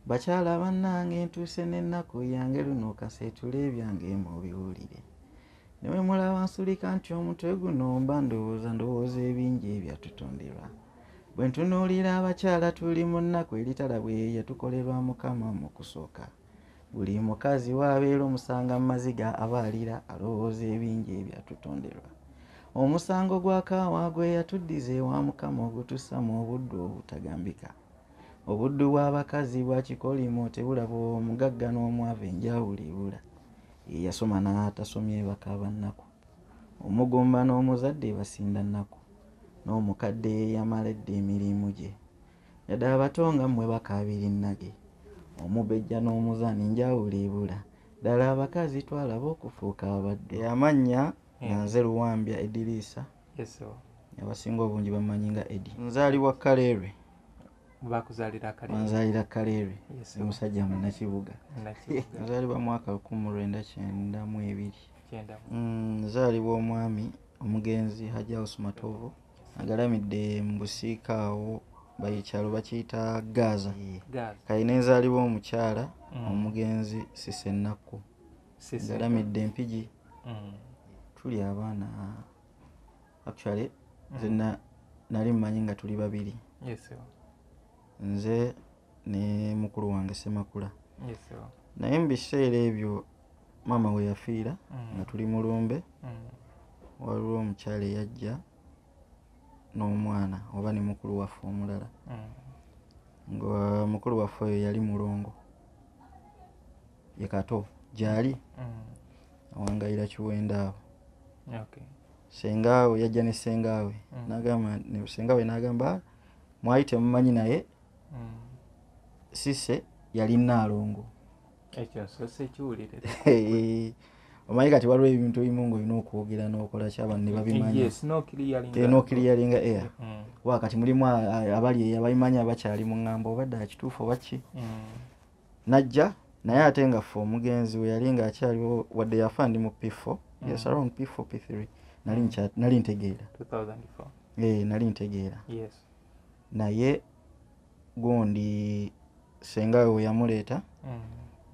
bakyala bannange ntuuse n'ennaku yange luno kaseetula ebyange mubiwulire ne bwe mulaba nsulika nti omutwe guno mba ndowooza ndowooza ebingi ebyatutonderwa bwe ntunuulira abakyala tuli mu nnaku eritala bwe yatukolerwa mukama mu kusooka buli mukazi waabeera omusanga mu maziga aba alira alowooza ebingi ebyatutonderwa omusango gwa kaawa gwe yatuddiza ewa mukama ogutussa mu obuddu obutagambika Obuddu bw'abakazi bwa kikolimo tebulaba omugagga n'omwavu enjawulo ebula. Eyasoma n'atasomye bakaaba nnaku. Omugumba n'omuzadde basinda nnaku. N'omukadde eyamala edda emirimu gye. Yadde abato nga mmwe bakaabira ennage. Omubejja n'omuzaana enjawulo ebula. Ddala abakazi twalaba okufuuka abaddu. Eyamannya nga nze Luwambya Ediriisa. abasinga obungi bamanyi nga edi nzaalibwa kaleerwe nzaalira kaleerwe omusajja munakibuga nzaalibwa mwaka lukumi mu lwenda kyenda mu ebiri mm, nzaalibwa omwami omugenzi hajaus matovu agalamidde mu busiika awo bayikyalo bakiyita gaaza kali nenzaalibwa omukyala mm. omugenzi sisenakku ngalamidde mpigi mm. tuli abaana actually mm. nze nali mumanyi nga tuli babiri nze ne mukulu wange semakula naye mu biseera ebyo maama we yafiira mm. nga tuli mu lumbe waliwo omukyala eyajja n'omwana oba ne mukulu waffe omulala nga mukulu waffe oyo yali mulongo ye kato gyali mm. awangayira kiwenda awo sengaawe yajja ne sengaawe mm. nagamba sengaawe nagamba mwali temumanyi naye mm. sise yali naalongo omanyi kati waliwo ebintu ebimu nga olina okwogera nokola kyabantu nebabimanyinokiliyalinga air mm. wa kati mulimu abali eyo ababimanyi abakyali mu ŋŋamba obadde akituufu oba ki mm. najja naye ate nga ffe omugenzi we yali nga akyaliwo wadde yafa ndi mu pifo mm. yes around pifo p3 nali nali ntegeera ee eh, nali ntegeera naye gundi senga we weyamuleeta mm.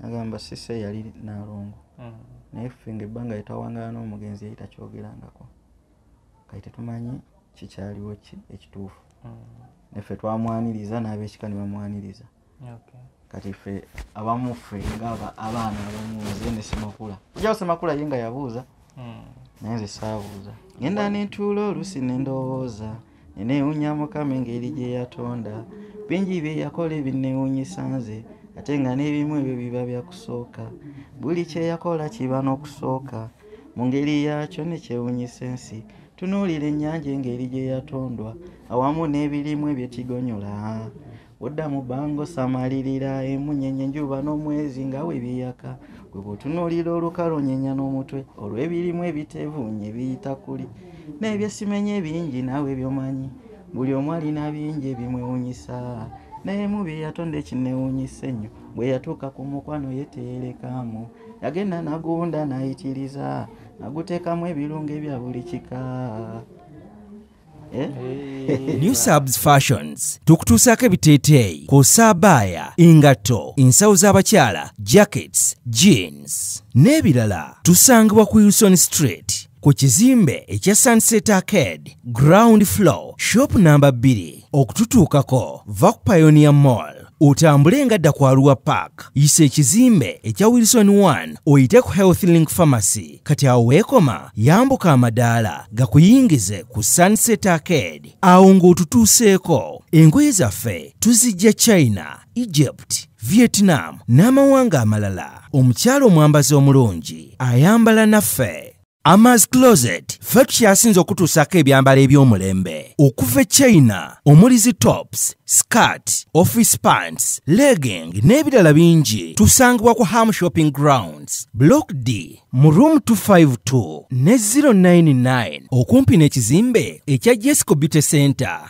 nagamba sise yali nalongo mm. naye ffe nga ebbanga yetawangala n'omugenzi yali takyogerangako kati tetumanyi kikyaliwo ki ekituufu neffe twamwaniriza n'abekika ne bamwaniriza kati ffe abamu ffe nga abaana abamu nze ne semakula ojawo semakula ye nga yabuuza hmm. naye nze saabuuza ngenda nentuula oluusi nendowooza nenewunya mukama engeri gye yatonda bingi bye yakola ebinnewunyisa nze ate nga n'ebimu ebyo biba byakusooka buli kyeyakola kiba n'okusooka mu ngeri yaakyo nekyewunyisa ensi tunuulira ennyanja engeri gye yatondwa awamu n'ebirimu ebyetigonyula Odda mu bbanga osamalirira emunyenye enjuba n'omwezi nga we biyaka gwe bw'otunuulira olukalu onyenya n'omutwe olw'ebirimu ebitevuunye biyita kuli n'ebyesimenye bingi naawe byomanyi buli omu alina bingi ebimwewunyisa naye mu bye yatonda ekinewunyisa ennyo bwe yatuuka ku mukwano ye teyerekaamu yagenda nagunda nayitiriza naguteekamu ebirungo ebya buli kika Eh? new subs fashions tukutuusaako ebiteeteeyi kw'ossa abaaya engatto ensawo z'abakyala jackets jeans n'ebirala tusangibwa ku wilson street ku kizimbe ekya sunset arcade ground floor shop namba 2 okututuukako va ku pionia mall otambule nga dda kwaluwa park yisa ekizimbe ekya wilson 1 oyite ku health link pharmacy kati awo weekoma yambuka amadaala gakuyingize ku sunset arcade awo ng'otutuuseeko engoye zaffe tuzijja china egypt vietnam n'amawanga amalala omukyalo omwambazi omulungi ayambala naffe Amas Closet ffe tukyasinze okutuusaako ebyambalo eby'omulembe okuva e China omuli zi tops, skirt, office pants, legging n'ebirala bingi tusangibwa ku Ham Shopping Grounds, Block D mu room 252 ne 099 okumpi n'ekizimbe ekya Jesco Beauty Center.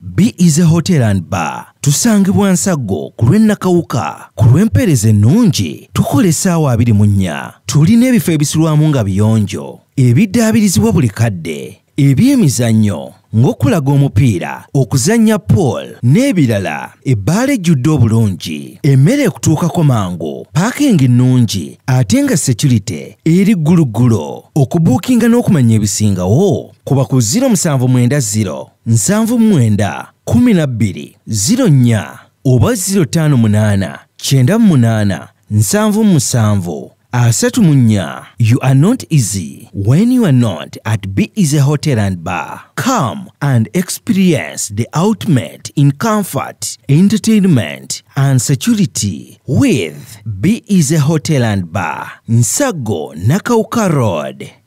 Be is a hotel and bar tusangibwa nsaggo ku lw'e Nakawuka ku lw'empeereza ennungi tukola essaawa abiri mu nnya tulina ebifo ebisulwamu nga biyonjo ebiddaabirizibwa buli kadde eby'emizannyo ng'okulaga omupiira okuzannya pool n'ebirala ebbaala ejjudde obulungi emmere ekutuukako mangu paakingi nnungi ate nga securite eri gguluggulo okubuukinga n'okumanya ebisingawo kuba ku 0790 nsanvu mwenda kumi na bbiri ziro nnya oba ziro ttaano munaana kyenda munaana nsanvu musanvu asatu mu nnya you are not easy when you are not at be easy hotel and bar come and experience the ultimate in comfort entertainment and security with be easy hotel and bar nsago nakauka road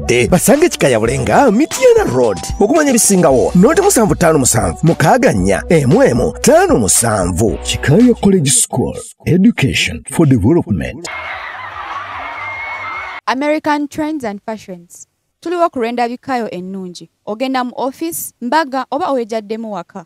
abazadde basange kikayabule nga mityana road okumanya ebisingawo noti musanvu ttaano musanvu mukaaga nnya emu emu ttaano musanvu kikaya college school education for development american trends and fashions tuliwo ku lw'endabikayo ennungi ogenda mu office mbaga oba owejaddemu waka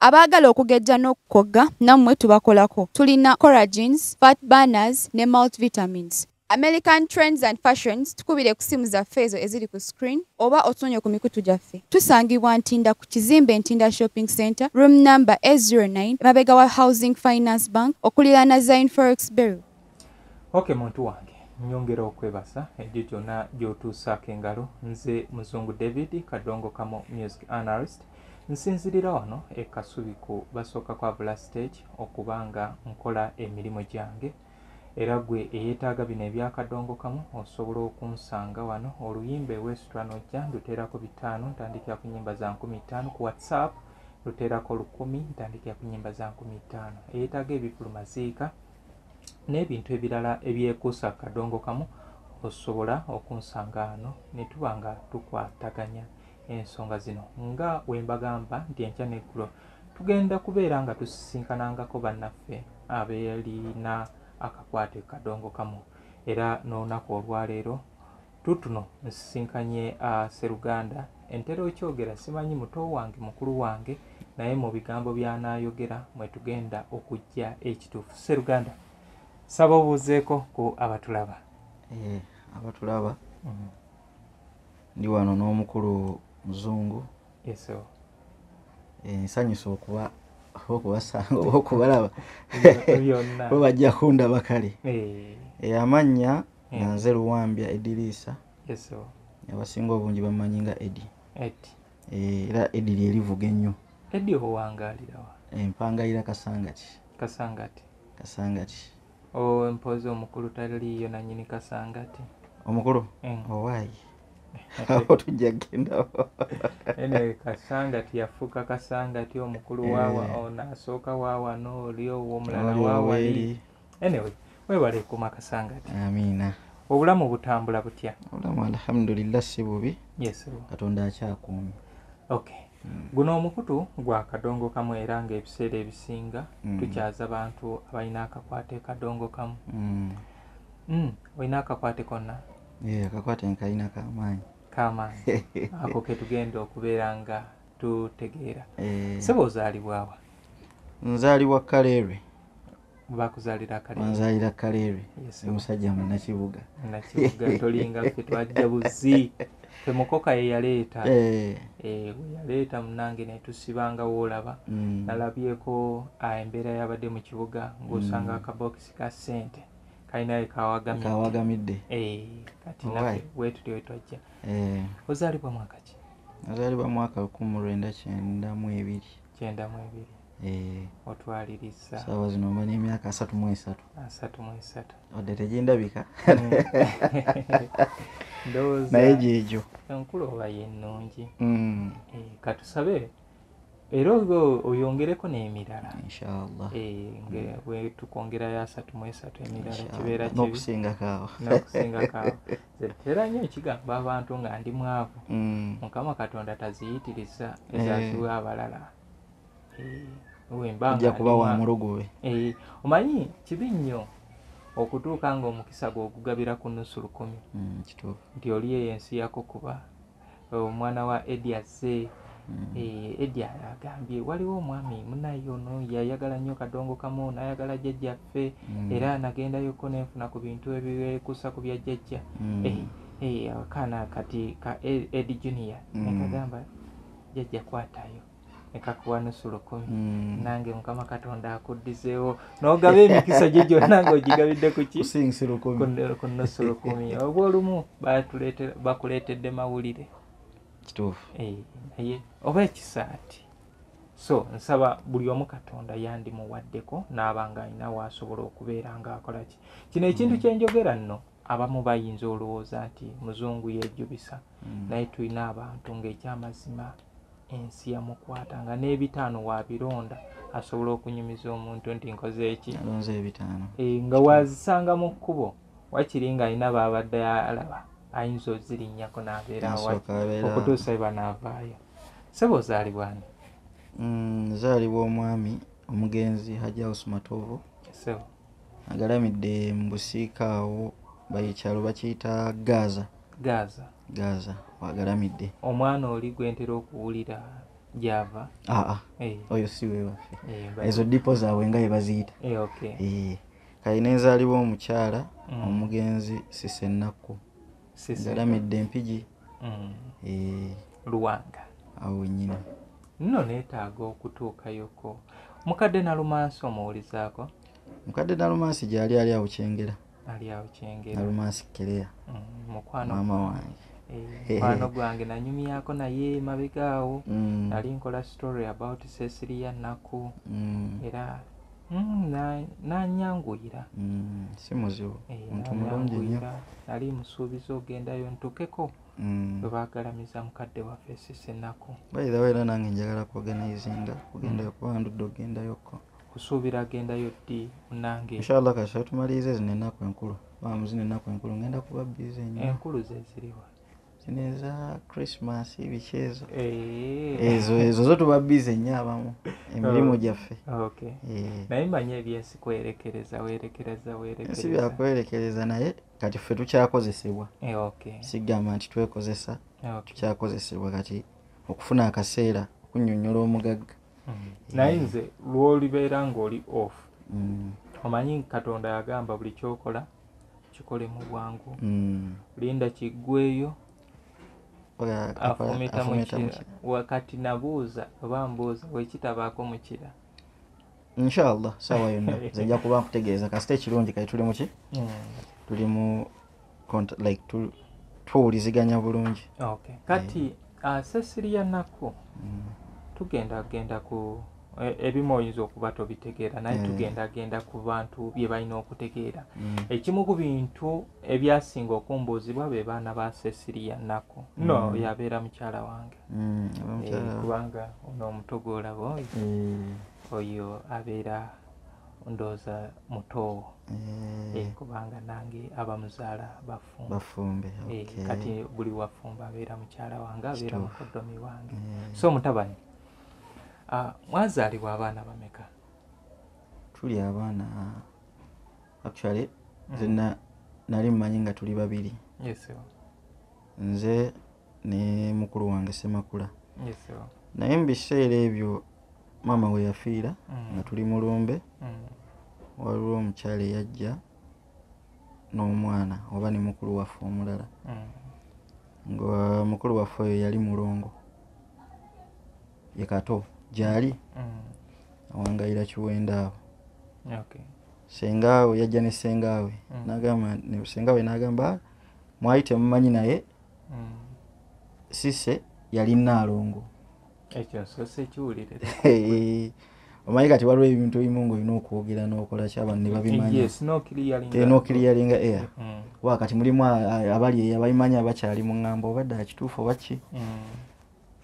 abaagala okugejja n'okukogga nammwe tubakolako tulina coragins fat banners ne multivitamins american trends and fashions tukubire ku simu zaffe ezo eziri ku screen oba otunonye ku mikutu gyaffe tusangibwa ntinda ku kizimbe ntinda shopping center room number 09 emabega wa housing finance bank okuliraana zine forex berry ok muntu wange nyongera okwebasa egyo gyona gyotuusaako engalo nze muzungu david kadongo kamo music analyst nsinzirira wano ekasubiku basooka kwabula stage okuba nga nkola emirimu gyange era gwe eyetaaga bino ebyakadongo kamu osobola okunsanga wano oluyimba ewesitula nojja nduteerako bitaano ntandikira ku nyimba za nkumi ttaano ku whatsapp luteerako lukumi ntandikira ku nyimba za nkumi ttaano eyetaaga ebivulumaziika n'ebintu ebirala ebyekuusa ku kadongo kamu osobola okunsanga ano ne tuba nga tukwataganya ensonga zino nga we mbagamba nti enkya n'eggulo tugenda kubeera nga tusisinkanangako bannaffe abeerina akakwate kadongo kamu era n'olunaku olwaleero Tutuno nsisinkanye a uh, seruganda entera okyogera simanyi muto wange mukulu wange naye mu bigambo byanayogera mwetugenda okujja ekituufu seruganda saba obuuzeeko ku abatulaba eh, abatulaba mm. ndi wano n'omukulu muzungu eso eh, nsanyusa okuba okubasanga oba okubalaba bo bajja kundaba kale eh. amannya nga mm. nze luwambya ediriisa abasinga obungi bamanyi nga edi eh, era edi lyerivuga ennyo edi owangalirawa empangalira kasangati kasangati kasangati empozi omukulu taliiyo nanyini kasangati omukulu mm. owaayi awo tujja kugenda kasangati yafuuka kasangati omukulu wawa eh. ono asooka wawano oli owo omulala wawali anyway webale kuma kasangati amina obulamu butambula butya obulamu alhamdulillah si bubi yes katonda akyakuumi okay hmm. guno omukutu gwa kadongo kamu era nga ebiseera ebisinga mm. tukyaza bantu abalina akakwate kadongo kamu mm. mm. olina akakwate konna yeah, akakwate nkalina kamaanyi kamaanyi ako ketugenda okubeera nga tutegeera eh. seba ozaalibwawa nzaalibwa kaleerwe wanzalira kaleri omusajja munakibuga tolinga fe twajja buzi fe mukoka ye yaleeta eh. Eh, yaleeta munange netusibanga woolaba mm. nalabyeko ah, embeera yabadde mu kibuga ngaosanga mm. akabokisi ka sente kalinaye kawagamidde eh, kati nafe wetuli wetwajja ozaalibwa mwaka ki nazaalibwa mwaka lukumi lwenda kyenda mu ebiri kyenda mu ebiri eh. otwaliriza saawa zino mba n'emyaka asatu mu esatu asatu mu esatu wadde tegindabika hmm. ndowooza naye gyegyo enkulu oba yennungi hmm. eh, katusabe era oyongereko n'emirala inshallah eh, hmm. tukwongerayo asatu mu esatu emirala kibeera kibi n'okusingako awo era nyo ekigamba abantu nga ndi mwavu mm. mukama katonda taziyitiriza eh. ezaziwa abalala eh, ojja kuba wa mulogobe eh, omanyi kibi nnyo okutuuka nga omukisa gwe ogugabira ku nusu lukumi mm, nti oli eyo ensi yako kuba omwana wa Eddie azze mm. eh, Eddie agambye waliwo omwami munaye ono yayagala nnyo kadongo kamu nayagala jjajja ffe mm. era nagendayoko nenfuna ku bintu ebikusa ku bya jjajja mm. eh, eh, akaana kati ka Eddie Junior nekagamba jjajja kwatayo nekakuwa nusu lukumi mm. nange mukama katonda akuddizeewo nogaba emikisa gye gyonna nga ogigabidde kukiku nusu lukumi oba olumu bakuleetedde mawulire kituufu eh, naye oba ekisaati so nsaba buli omu katonda yandimuwaddeko naaba nga alina waasobola okubeera ngaakolaki kino ekintu mm. kyenjogera nno abamu bayinza olowooza nti muzungu yejubisa mm. naye tulina abantu ngaekyamazima ensi yamukwata nga n'ebitaano wabironda asobola okunyumiza omuntu nti nkoze eki eh, nga wazisanga mu kkubo wakiri nga alina baabadde alaba ayinza ozirinnyako nabeera okutuusa eba naavaayo sebo ozaalibwani mm, nzaalibwa omwami omugenzi hajausi matovu Agalamidde mu busiika awo ekyalo bakiyita Gaaza. Gaaza. Gaaza wagalamidde. Omwana oli gwentera okuwulira gyava? Aa, hey. Eh. oyo si wewaffe hey, eh, ezo dipo zaabwe nga yebaziyita hey, eh, okay. hey. kali nenzaalibwa omukyala mm. omugenzi sisenakku galamidde empigi mm. eh. luwanga awo wenyini nno neetaaga okutuukayoko mukadde nalumansi omuwulizaako mukadde nalumansi gyali ali awo kyengera ali awo kyengera nalumansi kereya mm, mukwano maama wange eh, mukwano gwange nanyumyako naye mabega awo mm. nali nkola story about sesiriya naku mm. era Mm, nanyanguyira mm, si muzibu eh, muntu mulungi nyo nali musuubiza ogendayo ntukeko mm. webagalamiza mukadde waffe sisenaku baithawa era nange njagala kuoganizinga kugendayo kuba ndudde ogendayoko kusuubira agendayo ddi munange inshallah kasita tumaliriza zino enaku enkulu bamu zino enaku enkulu ngenda kuba bize nyo enkulu zeziriwa neza christmas biki ezo eh. ezo ezo zo tuba bize nnyo abamu emirimu oh, gyaffe eh. naye manyi ebyensi kwerekereza werekereza werekereza byakwerekereza naye kati ffe tukyakozesebwa eh, sigamba nti twekozesa tukyakozesebwa kati okufuna akaseera okunyonyola omugagga mm. naye nze lwolibeera ngaoli off mm. omanyi katonda yagamba buli kyokola kikole mu bwangu mm. linda kiggweeyo afumita mukira wakati nabuuza oba mbuuza wekitabaako mukira inshallah sawa yonna zijja kuba nkutegeeza kasita ekirungi kati tuli muki mm. tuli mu like tuwuliziganya bulungi kati yeah. uh, sesiriya nakku mm. tugenda genda ku E, ebimu oyinza okuba tobitegeera naye mm. tugendagenda ku bantu bye balina okutegeera mm. ekimu ku bintu ebyasinga okumbuuzibwa be baana ba sesiriya nnaku mm. no yabeera mukyala wange mm. eh, kubanga ono omuto gwolaba oyo mm. oyo abeera ndooza mutoowo mm. eh, kubanga nange abamuzaala bafumbe eh, kati buli wafumba abeera mukyala wange abeera mukodomi wange mm. so mutabani Ah, mwazaalibwa abaana bameka tuli abaana actually nze mm. na- nali mumanyi nga tuli babiri yes sebo nze ne mukulu wange semakula yes sebo naye mu biseera ebyo maama we yafiira Mm. nga tuli mu lumbe Mm. waliwo omukyala eyajja n'omwana oba ne mukulu waffe omulala mm. nga mukulu waffe oyo yali mulongo ye kato gyali mm. awangayira kiwenda awo sengaawe yajja ne sengaawe mm. nagamba sengaawe nagamba ah, mwali temumanyi naye sise yali naalongo omanyi kati waliwo ebintu ebimu nga olina okwogera nokola kyabantu nebabimanyanokiryeringa eh, air mm. wa kati mulimu abali eyo ababimanyi abakyali mu ŋŋambo obadde akituufu oba ki mm.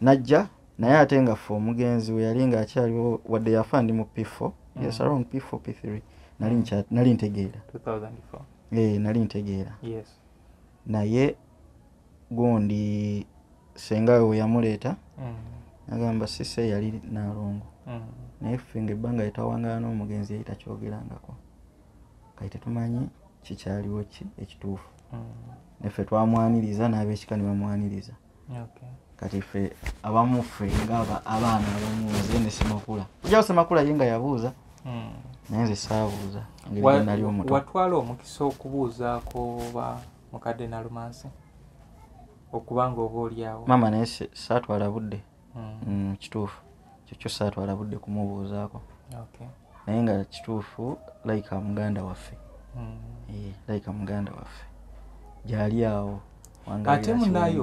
najja naye ate nga fe omugenzi we yali nga akyaliwo wadde yafa ndi mu pifo mm. yes around pifo p three nali ntegeera eh, nali ntegeera naye gundi senga we weyamuleeta mm. nagamba sise yali nalongo mm. naye ffe nga ebbanga lyetawangala n'omugenzi yali takyogerangako kati tetumanyi kikyaliwo ki ekituufu mm. neffe twamwaniriza n'abekika ne bamwaniriza kati ffe abamu ffe nga abaana abamuze ne semakula ojawo semakula ye nga yabuuza naye nze saabuuza ngelinali omuto watwala omukisa okubuuzaako ba mukadde nalumansi okuba nga oba olyawo maama naye saatwala budde hmm. mm, kituufu kyekyo saatwala budde kumubuuzaako naye nga kituufu layika muganda waffe hmm. eh, layika muganda waffe gyali awo ate munaye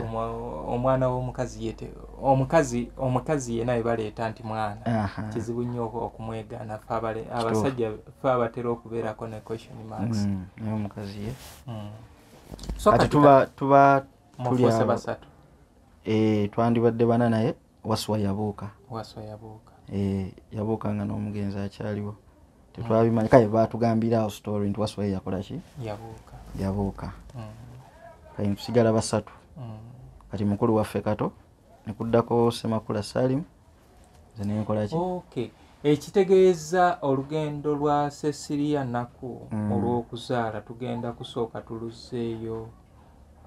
omwana womukazi yete omukazi omukazi yena ebaleeta nti mwana kizibu nnyo okumwegana fe abasajja fe abatera okubeerako ne question marks hmm, naye omukazi ye hmm. kati tuba tuba basatu eh, twandibadde bana naye waswa yabuuka waswa yabuuka eh, yabuuka nga n'omugenzi akyaliwo tetwabimanya kaye batugambira awo story nti waswa yakolaki yabuuka yabuuka hmm. kati tusigala basatu hmm. kati mukulu waffe kato nekuddako semakula salimu ekitegeeza olugendo lwa sesiriya naku mm. olw'okuzaala tugenda kusooka tuluzzeeyo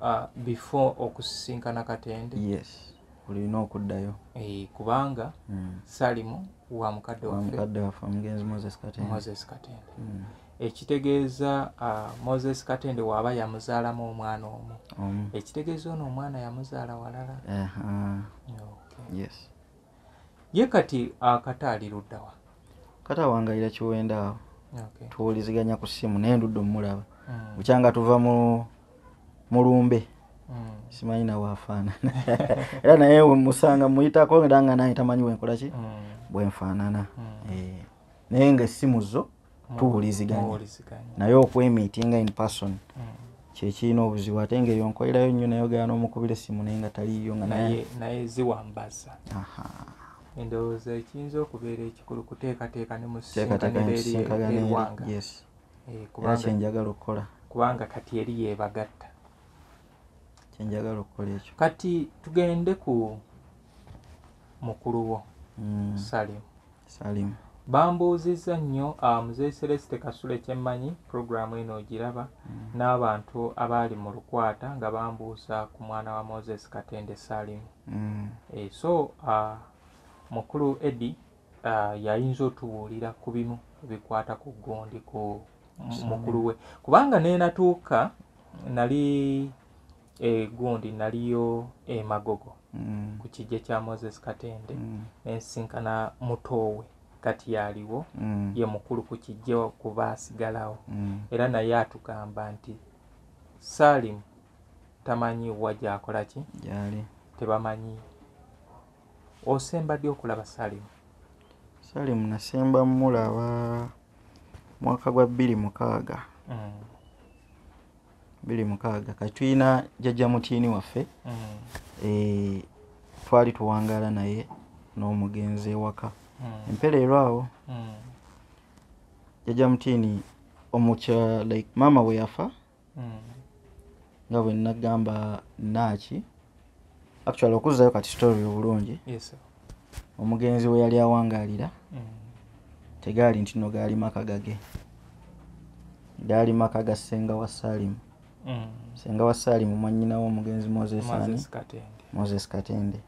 uh, before okusisinkana katende yes olina okuddayo eh, kubanga mm. salimu wa mukadde waffemoses katende mm. ekitegeeza uh, moses katende waaba yamuzaalamu omwana omu ekitegeeza ono omwana yamuzaala walala yes ye kati akata ali luddawa kata awangalira kiwenda awo okay. tuwuliziganya ku ssimu naye ndudde omulaba mm. bukyanga tuva mu mulumbe mm. simanyi nawe afaanana era naye musanga muyitako era nga naye tamanyi wenkolaki mm. bwenfaanana mm. e. naye nga essimu zo tuwuliziganya naye okwemitinga in person mm. kyekirina obuzibu ate nga eyo nkolerayo nnyo nayogera n'omukubira essimu naye nga taliyo nga naye ziwambaza endowooza ekiyinza okubeera ekikulu kuteekateeka ne musinkanaeriwanga eh, era kyenjagala okukola kubanga kati eri yebagatta kyenjagala okukola ekyo kati tugende ku mukulu wo mm. salimu Salim. Bambuuzizza nnyo ah, Mzee Celeste Kasule kye mmanyi, pulogulaamu eno ogiraba, mm. n'abantu abaali mu lukwata nga bambuuza ku mwana wa Moses Katende Salim. Mm. Eh, so ah, mukulu Eddy ah, yayinza otubuulira ku bimu bikwata ku gundi ku mukulu we kubanga nenatuuka nali e gundi naliyo e magogo mm. ku kijja kya moses katende mm. nensinkana mutoowe kati yaliwo mm. ye mukulu ku kijja kuba asigalawo mm. era naye atugamba nti salim tamanyi wa gyakola ki yali tebamanyi osemba ddi okulaba salim salim nasemba mulaba mwaka gwa bbiri mukaaga mm. biri mukaaga kati tulina jajja mutiini waffe mm. eh, twali tuwangaala naye n'omugenzi ewaka mm. empereero awo mm. jajja mutiini omukya like maama we yafa nga bwe nagamba naaki actually okuzzayo kati story obulungi yes, omugenzi we yali awangaalira mm. tegaali nti no gaali maka gage gaali maka ga ssenga wa saalimu mm. ssenga wa saalimu mwanyinawo omugenzi moses ani moses katende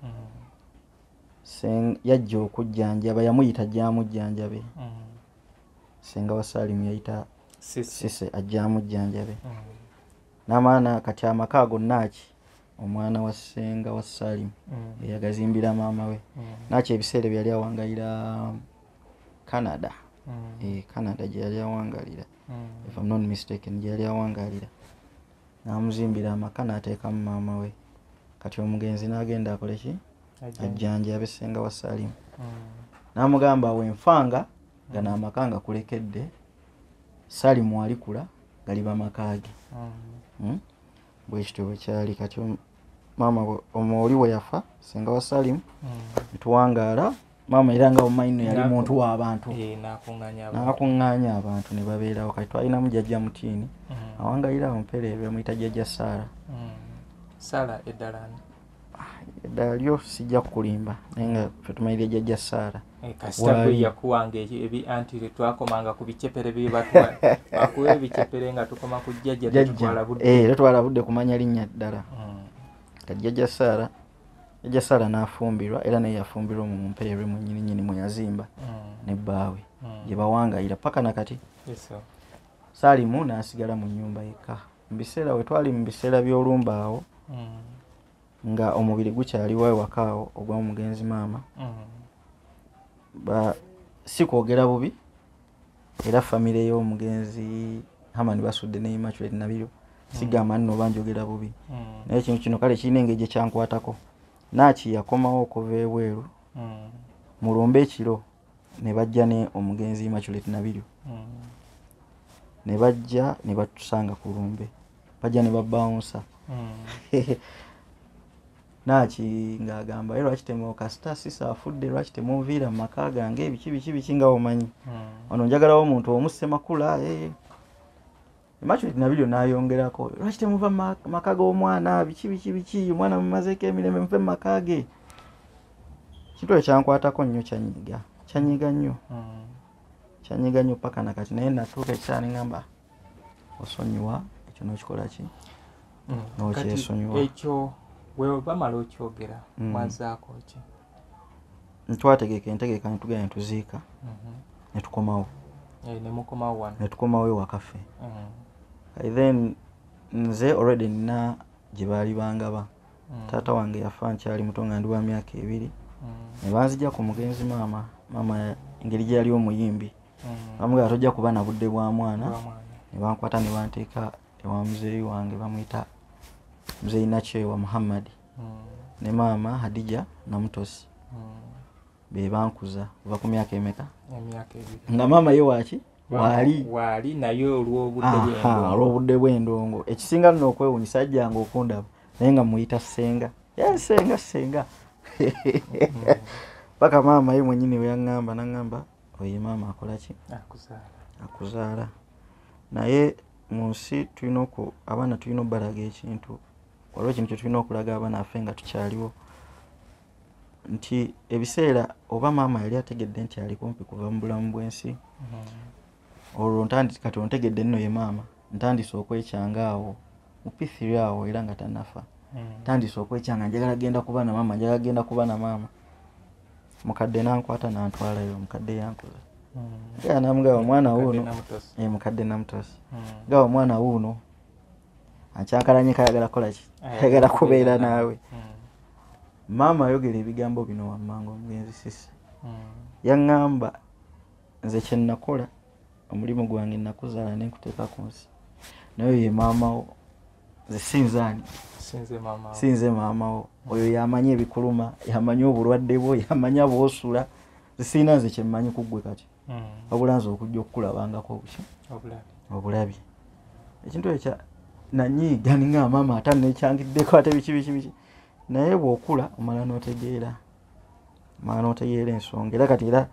mm. yajja okujjanjaba yamuyita gyamujjanjabe mm. ssenga wa saalimu yayita sise ajjamujjanjabe mm. namaana kati amaka ago naaki omwana wa senga wa salim mm. eyagazimbira maama we mm. nakyo ebiseera byeyali awangalira canada mm. e, canada gyeyali awangalira if am not mistaken gyeyali awangalira namuzimbira amaka nateekamu maama we kati omugenzi nagenda akoleki ajjanja abesenga wa salim namugamba wenfanga nga namaka nga kulekedde salimu alikula galiba makaage hmm? bwekityo bwekyali kati maama omuoli weyafa senga wa salim netuwangaala mm. maama era nga omaino yali muntu wabantu eh, nakunganya abantu nebabeerawo kati twalinamu jajja mutiini mm. awangalira awo mpereere bamuyita jajja saara mm. eddala lyo sijja kukulimba naye nga fetumaire jajja saara eh, kasita gwe yakuwanga ebi anti twakomanga ku bicepere byebakuwa ebicepere nga tukoma ku jjajja tetwala eh, budde kumanya linnya ddala hmm. kati jajja saara jajja saara n'afumbirwa era naye yafumbirwa mu mumpeerwe mu nyininyini mwe yazimba hmm. ne bbaawe hmm. gye bawangayira paka na kati saalimu n'asigala mu nyumba yekka mubiseera wetwali mubiseera byolumba awo mm. nga omubiri gukyaliwo ewaka awo ogwa mugenzi maama mm. si kwogera bubi era famire yomugenzi hamani basudde ne immaculate nabiro mm. sigamba nno oba njogera bubi naye ekintu kino kale kirina engeri gyekyankwatako naaki yakomawo okuva ebweru mulumbe ekiro ne bajja ne omugenzi maculet nabiryo hmm. ne bajja ne batusanga ku lumbe bajja ne babawunsa hmm. naki ngaagamba ye lwaki temu kasita sisa afudde lwaki temunviira mu maka gange ebiki biki biki nga omanyi hmm. ono njagalawo omuntu omu ssemakula eh. Immaculate Nabiryo n'ayongerako lwaki temuva mu ma- maka g'omwana biki biki biki omwana mumazeeko emirembe muve mu maka ge kintu ekyo kyankwatako nnyo kyanyiga kyanyiga nnyo Mm. kyanyiga nnyo paka na kati naye natuuka ekiseera ne ŋŋamba osonyiwa ekyo n'okikola ki Mm. N'okyesonyiwa. Kati ekyo bwe bamala okyogera Mm. mwazaako ki ntwategeka entegeka netugenda netuziika mhm. netukomawo eh, netukomawo ewakaffe mhm. then nze already nina gyebaali bangaba mhm. taata wange yafa nkyali muto nga ndi wa myaka ebiri nebanzija ku mugenzi maama maama engeri gyeyali omuyimbi bamugaba tojja kuba na budde bwa mwana nebankwata nebanteeka ewa muzeeyi wange bamwita muzeeyi nakyewa muhammadi ne maama hadija namutosi bebankuza ova ku myaka emeka nga maama ye waki wali naye olwobudde bwendongo ekisinga lino okwewunyisa ajjanga okundaba naye nga muyita senga senga senga paka maama ye mwenyini weyaŋamba naŋamba oye maama akolaki akuzaala naye mu nsi tulina abaana tulina obalaga ekintu waliwo ekintu kyetulina okulaga abaana afe nga tukyaliwo nti ebiseera oba maama yali ategedde nti ali kumpi kuva mu bulamu bwensi mm-hmm. olwo kati ontegedde nno ye maama ntandise okwekyanga awo mupithiri awo era nga tanafa mm-hmm. ntandise okwekyanga njagala genda kuba na maama njagala genda kuba na maama mukadde nankwata nantwalayo mukadde yankoza mm-hmm. namugaba omwana wuuno mukadde namutosi gaba omwana wuuno akyakalanyi kayagala kolaki ayagala kubeera naawe hmm. maama ayogera ebigambo bino wammanga omugenzi sisi hmm. yaŋŋamba nze kyenakola omulimu gwange nakuzaala nenkuteeka ku nsi naye ye maamawo nze sinzaani sinze maamawo oyo yamanyi ebikuluma yamanyi obulwadde bwo yamanya bwosula zisirina nze kyemmanyi kuggwe kati hmm. wabula nze okujja okukulabangako obuki obulabi ekintu ekya nanyiiga ninga maama ate nekyangiddeko ate biki biki biki naye bwokula omala notegeera omala notegeera ensonga era kati era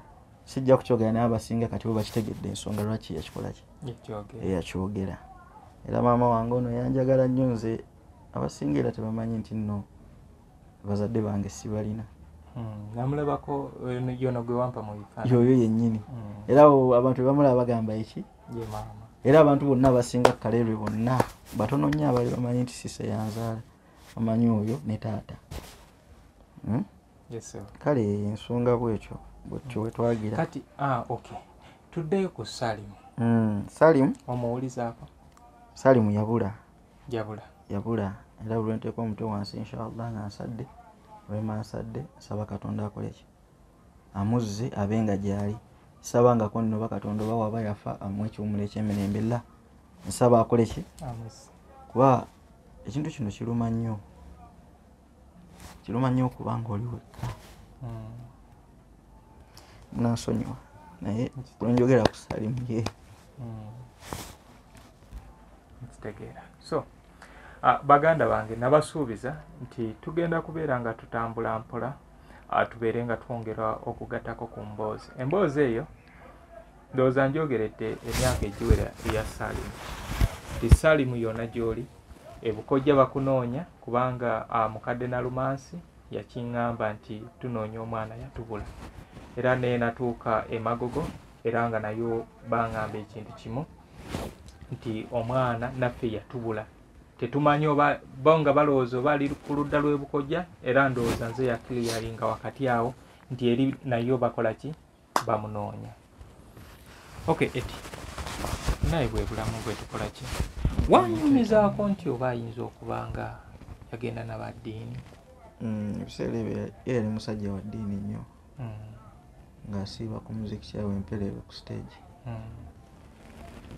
sijja kukyogera naye abasinga kati bo bakitegedde ensonga lwaki yakikolaki eyakyogera era maama wange ono yanjagala nnyo nze abasinga era tebamanyi nti no bazadde bange sibalina hmm, namulabako yono gwe wampa mu bifaananyi yoyo yennyini hmm. era abantu bebamulaba bagamba eki era abantu bonna abasinga kaleerwe bonna batono nnyo abali bamanyi nti sise yanzaala amanyi oyo ne taata hmm? kale ensonga bwekyo bwekyo wetwagira kati ah, okay tuddeyo ku salimu salimu omuwulizaako salimu yabula jabula jabula era buli lwenteeka omutwe wansi inshallah nga nsadde olwema nsadde nsaba katonda akoleki amuzze abe nga gyali nsaba nga ko nnoba katonda oba waba yafa amu ekiwumulo ekyemirembe la nsaba akoleki kuba ekintu kino kiruma nnyo kiruma nnyo okuba nga oli wekka hmm. munansonyiwa naye lwenjogera ku salimu ye hmm. nkitegeera so ah, baganda bange nabasuubiza nti tugenda kubeera nga tutambula mpola ah, tubeere nga twongera okugatako ku mboozi emboozi eyo ndowooza njogeredde emyaka egiwera eya salimu ti salimu yona gyoli ebukojja bakunoonya kubanga ah, mukadde nalumansi yakiŋŋamba nti tunoonya omwana yatubula era naye natuuka emagogo era nga nayo baŋŋamba ekintu kimu nti omwana naffe yatubula tetumanyi oba bo nga balowooza oba ali ku ludda lw'ebukojja era ndowooza nze yakiliyalinga wakati awo nti eri nayo bakola ki bamunoonya ok eti naye bwebulamu bwetukola ki wanyumizaako nti oba ayinza okuba nga yagenda nabaddiini mm, ebiseera ebyo yali musajja wa ddiini nnyo mm. ng'asiiba ku muziki kyawe empereero ku siteegi mm.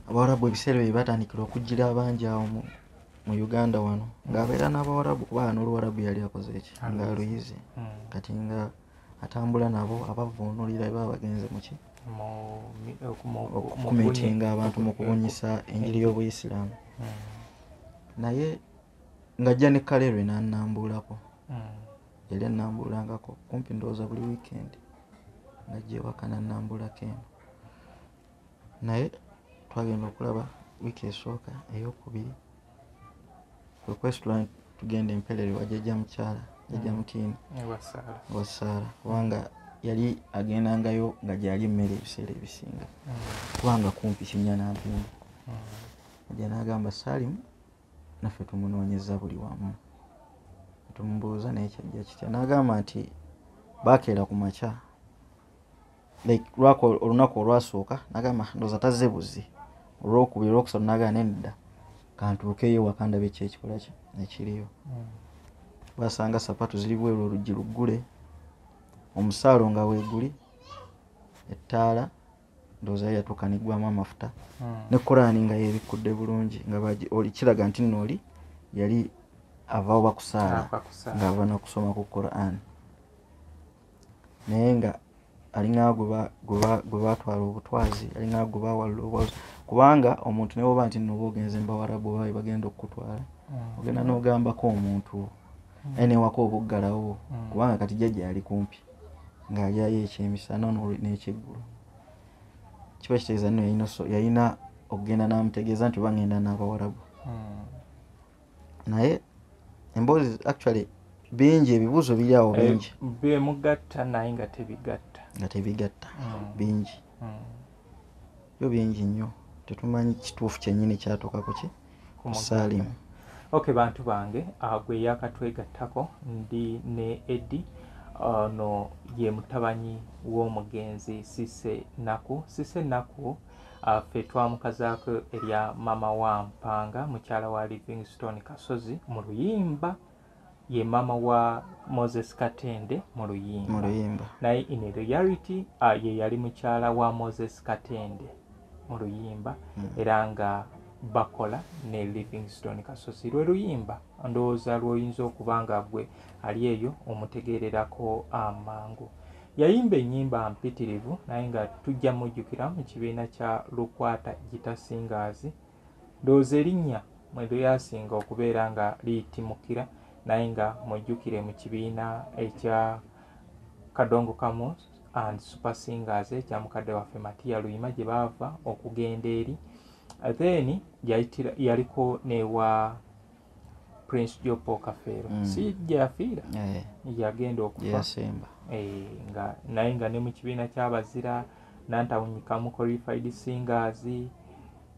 abawarabu ebiseera ebyo batandikira okujjira abangi awo mu uganda wano ng'abeera n'abawarabu kuba n'oluwarabu yali akoze eki ng'aluyizi kati nga mm. atambula nabo abavunulira eba bagenze muki okumitinga abantu mu kubunyisa enjiri y'obuyisiraamu hmm. naye ng'ajja ne kalerwe nanambuulako hmm. yali anambuulangako kumpi ndowooza buli wiikendi ng'ajja ewaka nanambuulako eno naye twagenda okulaba wiiki esooka eyokubiri okwesitula tugenda emperere wajaja mukyala jaja mm. mutiini wasaala kubanga yali agendangayo nga gyali emmere ebiseera ebisinga mm. kubanga kumpi kinya nampindi mm. aja nagamba salimu naffe tumunoonyeza buli wamu tumubuuza naye kyajja kitya nagamba nti bakeera ku makya like lwako olunaku olwasooka nagamba ndoza tazze buzzi olwokubiri olwokusatu nagamba nenedda kantuukeyo wakandaba ekyo ekikolaki ekiriyo hmm. basanga sapatu ziri bweru oluggi luggule omusaalo nga weguli ettaala ndoozayo yatuuka negwamu amafuta hmm. ne korani nga yebikkudde bulungi nga kiraga nti nno oli yali avawo bakusaala ngaava nokusoma ku korani naye nga alinga gwebatwala obutwazi alinga gwebawalula obwazi kubanga omuntu newoba nti noba ogenze mubawarabu oba webagenda okukutwala mm. ogenda nogambako omuntu mm. aye newaka obuggalawo mm. kubanga kati jajja ali kumpi ngaalyayo ekyemisana nekyeggulo kiba kitegeeza nno yalina okugenda namutegeeza nti oba ngenda nabawarabu naye emboozi actually bingi ebibuuzo biri awo eh, bingi bemugatta naye nga tebigatta nga tebigatta mm. bingi mm. yo bingi nnyo tetumanyi kituufu kyenyini kyatuukako ki kusaalimu ok bantu bange ah, gwe yakatwegattako ndi ne edi ono ye mutabanyi w'omugenzi sise naku sise naku Ah, ffe twamukazaako erya mama wa mpanga mukyala wa livingstone kasozi mu luyimba ye mama wa moses katende mu luyimba naye in reality ah, ye yali mukyala wa moses katende mu luyimba hmm. era nga bakola ne livingstone kasozi lwe luyimba ndowooza lwoyinza okuba nga gwe ali eyo omutegeererako amangu ah, Yayimba ennyimba mpitirivu naye nga tujja mujjukira mu kibiina kya Lukwata Gita Singers. Ndowooza erinnya mwe lyasinga okubeera nga liyitimukira naye nga mujjukire mu kibiina ekya Kadongo Kamus and Super Singers ekya mukadde waffe Matiya Luyima gye baava okugenda eri. Then yaliko newa prince jopo kafeero mm. si gyeyafiira eh. yagenda okufa eh, nga naye nga ne mu kibiina kyabazira nantawunyikamu qualified singers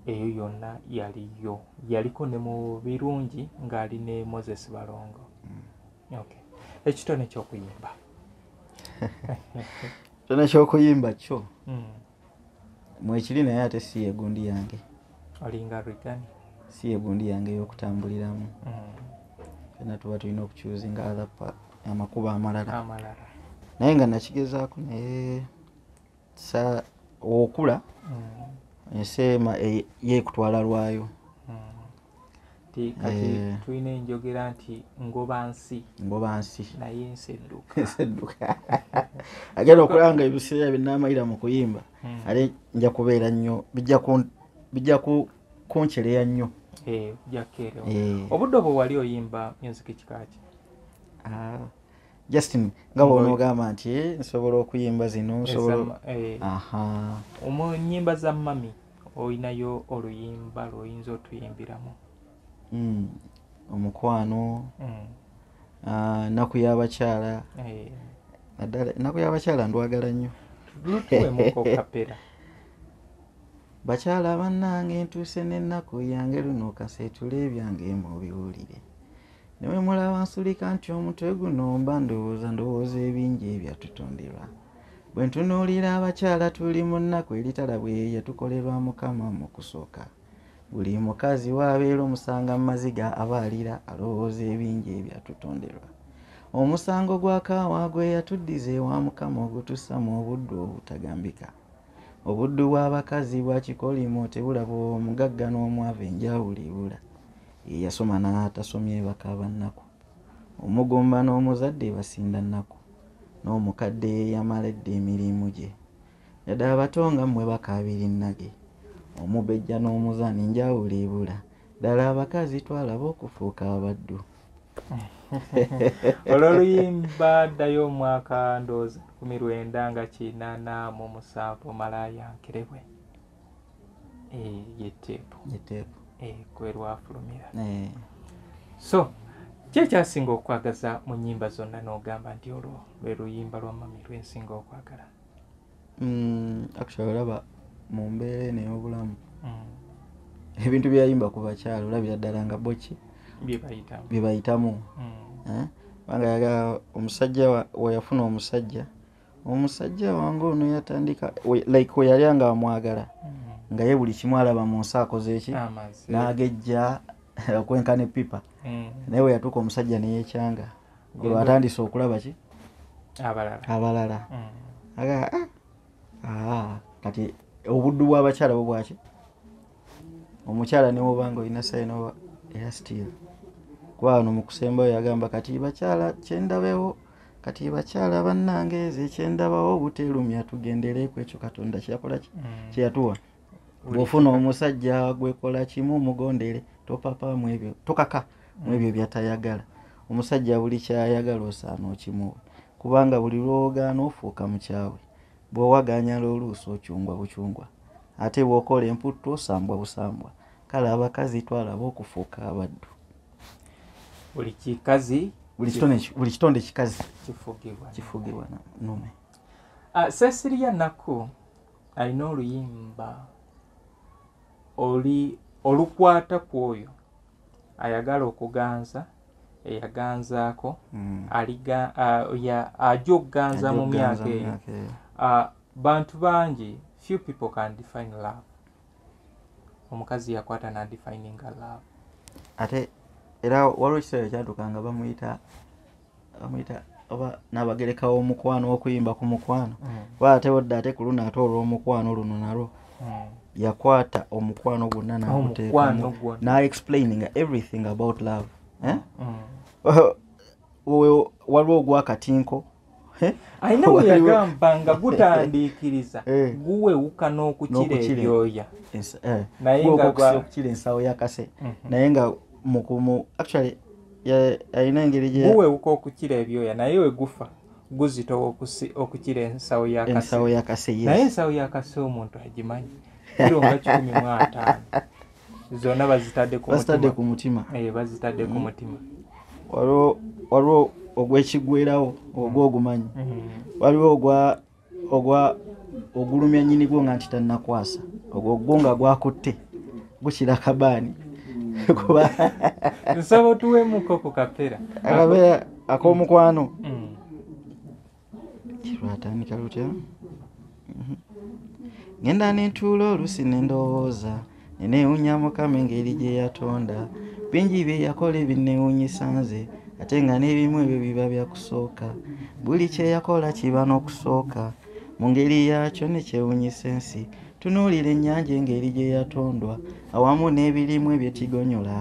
eyo yonna yaliyo yaliko ne mu birungi ng'ali ne moses balongo mm. okay. ekitone kyokuyimba kitone kyokuyimba kyo mm. mwekiri naye ate si yegundi yange olinga rigani si yegundi yange eyokutambuliramu fena mm. tuba tulina okucuzinga other amakuba amalala naye nga nakigezaako naye sa okula mm. ensi ema e, yekutwala lwayo nti kati eh. tulina enjogera nti ngoba nsi ngoba nsi naye ensi edduka ensi edduka agenda okulaba nga ebiseera binamalira mu kuyimba hmm. ate nja kubeera nnyo bijja kuncereya nnyo eh, eh. obudde obwo wali oyimba music kikaki ah, justin nga bwonoogamba nti eh, nsobola okuyimba zino eh, nyimba za mami olinayo oluyimba lwoyinza otuyimbiramu hmm, omukwano hmm. ah, naku yabakyala eh. naddala naku yabakyala ndwagala nnyo bakyala bannange ntuuse n'ennaku yange luno kaseetula ebyange mubiwulire newemulaba nsulika nti omutwe guno mba ndowooza ndowooza ebingi ebyatutonderwa bwe ntunuulira abakyala tuli mu nnaku eritala bwe yatukolerwa mukama mu kusooka buli mukazi waabeera omusanga mu maziga aba alira alowooza ebingi ebyatutonderwa omusango gwa kaawa gwe yatuddiza ewa mukama ogutussa mu obuddu obutagambika Obuddu bw'abakazi bwa kikolimo tebulaba omugagga n'omwavu enjawulo ebula. Ye yasoma n'atasomye bakaaba nnaku. Omugumba n'omuzadde basinda nnaku. N'omukadde yamala edda emirimu gye. Yadde abato nga mmwe bakaabira ennage. Omubejja n'omuzaana enjawulo ebula. Ddala abakazi twalaba okufuuka abaddu. olwo oluyimba ddayo omwaka ndoozi kumi lwenda nga kinana mu musanvu malaya nkirebwe eh, yeteepu yeteepu eh, kwe lwafulumira eh. so kyekyasinga okwagaza mu nyimba zonna n'ogamba nti olwo lwe luyimba lwa mami lwensinga okwagala mm, actually olaba mu mbeera eno ey'obulamu mm. ebintu byeyayimba ku bakyalo olabira ddala nga boki bye bayitamu mm. eh? kubanga yaga omusajja weyafuna omusajja omusajja wange ono yatandika like weyali anga amwagala nga ye buli kimu alaba mu nsi akoze eki n'agejja okwenkana epipa naye weyatuuka omusajja neyekyanga gwe batandise okulaba ki abalala abalala mm. aga ah, ah, kati obuddu bw'abakyala bwo bwaki omukyala newobanga olina sayina oba era still kuba wano mu kusembayo yagamba kati bakyala kyendabewo kati bakyala bannange eze kyendabawo obuteerumya tugendereeku ekyo katonda kyeyakola mm. kyeyatuwa mm. bwofuna omusajja gwekola kimu mugondere topapa mwebyo tokaka mwebyo byatayagala omusajja buli kyayagala osaana okimuwa kubanga buli lwowogaana ofuuka mukyawe bwowaganyala oluusi okyungwa bukyungwa ate bwokola emputtu osambwa busambwa kale abakazi twalaba okufuuka abaddu buli kikazi buli kitonde kikazi kifugibwa nume ah, sesiriya nakku alina oluyimba oli olukwata ku oyo ayagala okuganza eyaganzaako mm. ajja okuganza mu myaka eyo bantu bangi few people can define love omukazi yakwata nadefininga love ate era waliwo ekiseera kyatuka nga bamuyita amuyita oba nabagereka womukwano okuyimba ku mukwano mm. oba ate odda ate ku luno ate olwomukwano luno nalwo mm. yakwata omukwano gwonna nakuteekamu na explaining everything about love eh? mm. waliwo ogwakatinko eh? ayina weyagamba nga gutandiikiriza eh. guwewuka n'okukira ebyoya naye nga okukira ensawo yakase mhm. naye nga mukumu actually ya- alina engeri gye guwewuka okukira ebyoya naye we gufa guzitowa okusi- okukira ensawo ya kasi ensawo ya kase naye yes ensawo ya kasi omuntu agimanyi kiro nga kikumi mu ataano zonna bazitadde ku basitadde mutima ku mutima Eh, bazitadde ku mutima waliwo waliwo ogwekigwerawo ogwo ogumanyi Mhm. waliwo ogwa ogwa ogulumya nyini gwo nga nti tannakwasa ogwo gwo nga gwakutte gukira kabaani kuba nsaba otuwemuko ku kapera akapera ak'omukwano mm. kirwatandika lutya mhm. ngenda nentuula oluusi nendowooza nenewunya mukama engeri gye yatonda bingi bye yakola ebinnewunyisa nze ate nga n'ebimu ebyo biba bya kusooka buli kye yakola kiba n'okusooka mu ngeri yaakyo ne kyewunyisa ensi tunuulira ennyanja engeri gye yatondwa awamu n'ebirimu ebyekigonyola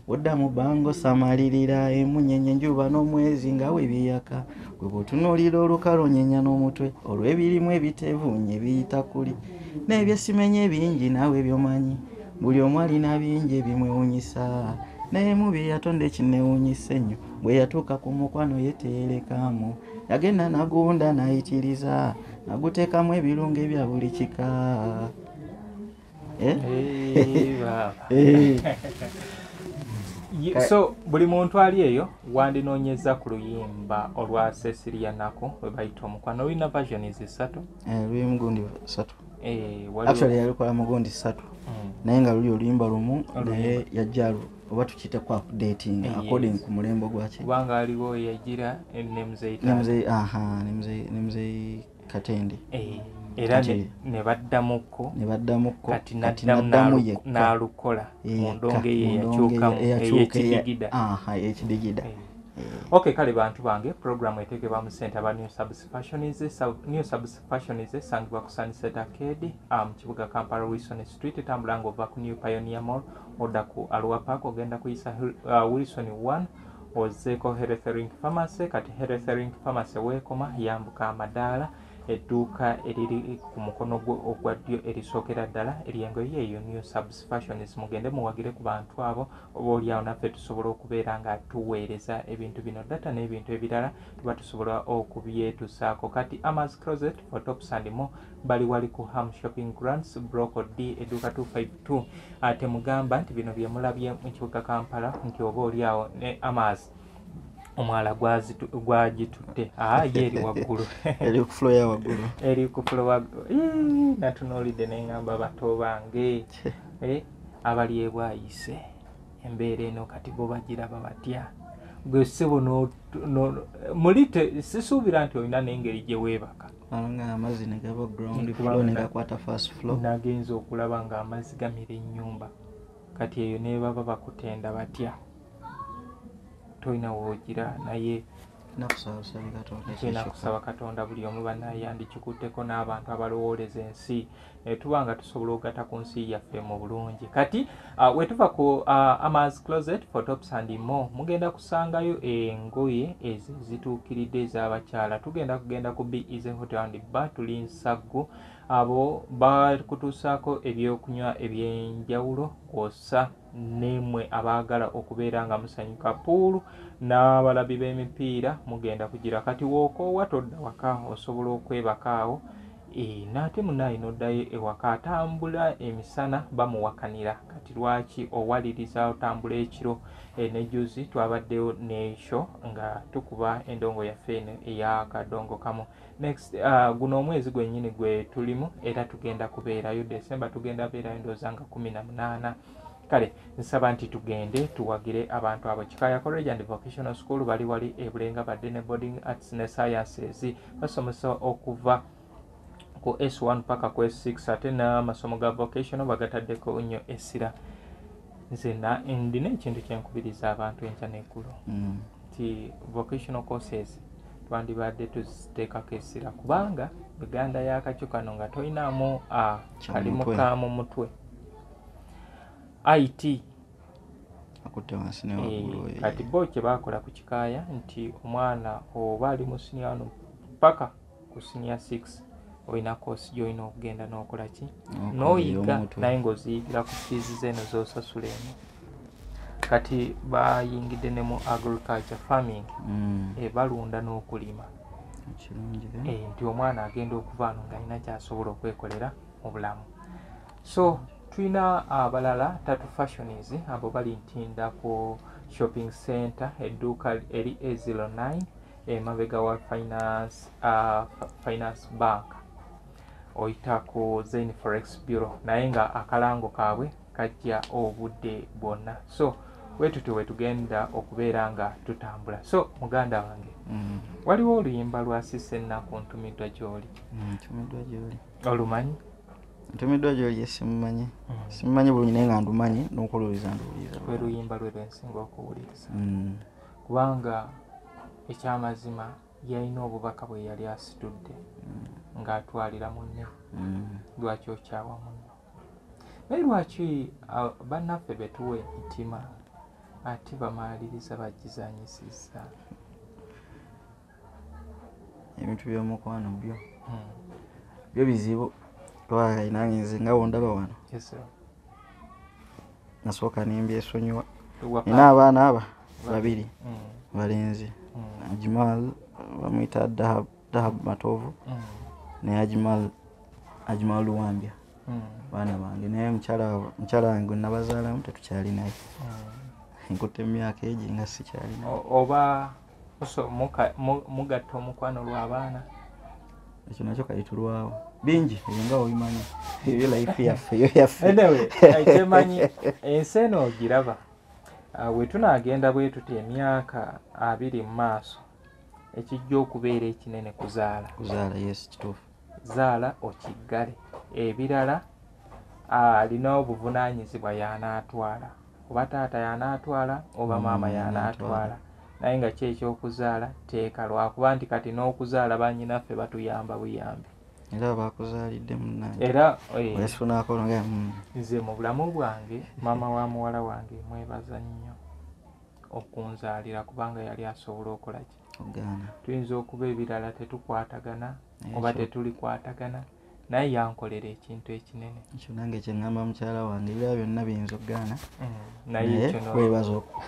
odda mu bbanga osamalirira emunyenye enjuba n'omwezi nga we biyaka gwe bw'otunuulira olukalu onyenya n'omutwe olw'ebirimu ebitevuunye biyita kuli n'ebyesimenye bingi naawe byomanyi buli omu alina bingi ebimwewunyisa naye mu bye yatonda ekinewunyisa ennyo bwe yatuuka ku mukwano ye teyerekaamu yagenda nagunda nayitiriza naguteekamu ebirungo ebya buli kika Eh? Eh, so buli muntu ali eyo wandinoonyeza ku luyimba olwa cecilia nako webayita omukwano olina versions satu eh, luyimu gundi satu actually yalikola mugundi satu mm. naye nga luli oluyimba lumu naye yajjalu oba tukiyite ku updating according ku mulembo gwaki kubanga aliwo yagira ne muzeyi ne muzeyi aha ne muzeyi katende eh, era ne baddamukko ne baddamukko kati naddamu yekka n'alukola eh, mu ndongo eyo eyakyukamu eyekidigida eyekidigida eh, ok kale bantu bange puroguramu eteekebwa mu sente aba new subspationsnew subspationies esangibwa ku sunset arcade ah, mu kibuga kampala wilson street etambula nga ova ku new pioneer mall odda ku alwa park ogenda kuyisa ah, wilson one ozzeeko heretherink pharmacy kati heretherink pharmacy weekoma yambuka amadaala edduuka eriri ku mukono gwo ogwa ddyo erisookera ddala eryengoye eyo new subs fashions mugende muwagire ku bantu abo oba olyawo naffe tusobola okubeera nga tuweereza ebintu bino data n'ebintu ebirala tuba tusobola okubyetusaako kati amas closet for tops and mo bali wali ku ham shopping grants broco d edduuka 25 tu ah, temugamba nti bino byemulabye mu kibuga kampala nti oba oli awo ne amas omwala gwagitutte ah, ye eri waggulu eri ku fulo ya waggulu eri ku fulo waggulu natunuulidde ne ngamba bato bange eh, abali ebwayise embeera eno kati bo bagiraba batya gwe ssebo muli sisuubira nti olina n'engeri gye weebaka amazzi negaba ground flow negakwata fast flow nagenza okulaba nga amazzi gamira enyumba kati eyo nebaba bakutenda batya tolina wogira naye nakusaba katonda buli omu banayandikikutteko n'abantu abalowooleza ensi Eh, tuba nga tusobola okugata ku nsi yaffe mu bulungi kati uh, wetuva ku uh, amaz closet photops and mo mugenda kusangayo engoye ezo zituukiridde ez'abakyala tugenda kugenda ku beasy hotel and ba tuli nsaggu abo bakutuusaako ebyokunywa ebyenjawulo kwosa nemwe abaagala okubeera nga musanyuka puulu n'abalabi b'emipiira mugenda kugira kati wookoowa todda waka osobola okwebakaawo Eeh nate munaye nodayo ewaka atambula emisana bamuwakanira kati lwaki owaliriza otambula ekiro eh, ne juzi twabaddeyo ne show nga tukuba endongo yaffe eno eya kadongo kamu next uh, guno omwezi gwenyini gwe tulimu era tugenda kubeerayo december tugenda beerayo ndooza nga kumi na munaana kale nsaba nti tugende tuwagire abantu abo kikaya college and vocational school bali wali ebulenga badde ne boarding arts ne sciences basomesa okuva ku s1 paka ku s6 ate n'amasomo ga vocational bagataddeko nnyo essira nze ndina ekintu kyenkubiriza abantu enkya neggulu mm. nti vocational courses twandibadde tuziteekako essira kubanga uganda yakakyo kano nga tolinamu ah, kalimu ka mu mutwe it akutte wansi ne waggulu eh, kati bo kye baakola ku kikaaya nti omwana oba ali mu sinia wano paka ku sinia six olina koosi gyolina okugenda n'okola ki n'oyiga naye ng'oziyigira ku fiizi zeeno z'osasula eno kati bayingidde ne mu agriculture farming mm. eh, balunda n'okulima eh, nti omwana agenda okuvaano ng'alina kyasobola okwekolera mu bulamu so tulina abalala tatu fashions abo bali ntinda ku shopping center edduuka eri a09 emabega wa finance, uh, finance bank oyita ku zain forex bureau naye nga akalango kaabwe kajja obudde bwonna so wetutyo wetugenda okubeera nga tutambula so muganda wange mm. waliwo oluyimba lwasisa ennaku ntumiddwa gyoli mm, olumanyi ntumiddwa gyoli ye simumanyi mm. simumanyi bulungi naye nga ndumanyi nokuwuliriza nduwuliriza lwe luyimba lwe lwensinga okuwuliriza mm. kubanga ekyamazima yalina obubaka bwe yali asitudde mm. ng'atwalira munne lwaki okyawa munno naye lwaki bannaffe betuwa emitima ate bamaliriza bagizanyisiza ebintu byomukwano byo hmm. byo bizibu twaayi nange nze nga wondaba wano nasooka nembyesonyiwa nina abaana aba babiri hmm. balenzi hmm. ajimal bamwita dahabu matovu naye ajimal ajimal luwambya baana bange naye mukyala wange nabazaalamu tetukyali naye nkutte emyaka egi nga sikyalina oba so mugatta omukwano lwa baana ekyo nakyo kayitulwawo bingi ebyo nga obimanyi ebyo life yaffe eyo yaffe kyemanyi ensi eno ogiraba ah, wetunagenda bwetuti emyaka abiri mu maaso ekijja okubeera ekinene kuzaala kuzaala yes kituufu zaala okiggale ebirala alina obuvunaanyizibwa y'anaatwala oba taata y'anaatwala oba mm, maama y'anaatwala naye nga ki ekyokuzaala teeka lwakuba nti kati n'okuzaala banyinaffe batuyamba buyambi era bakuzaalidde munange era eh, wesunakolonga mm. nze mu bulamu bwange maama wa muwala wange mwebaza nnyo okunzaalira kubanga yali asobola okola ki tuyinza okuba ebirala tetukwatagana oba tetulikwatagana naye yankolera ekintu ekinene ekyo nange kyeŋamba mukyala wange ebira byonna biyinza okugaana mm, naye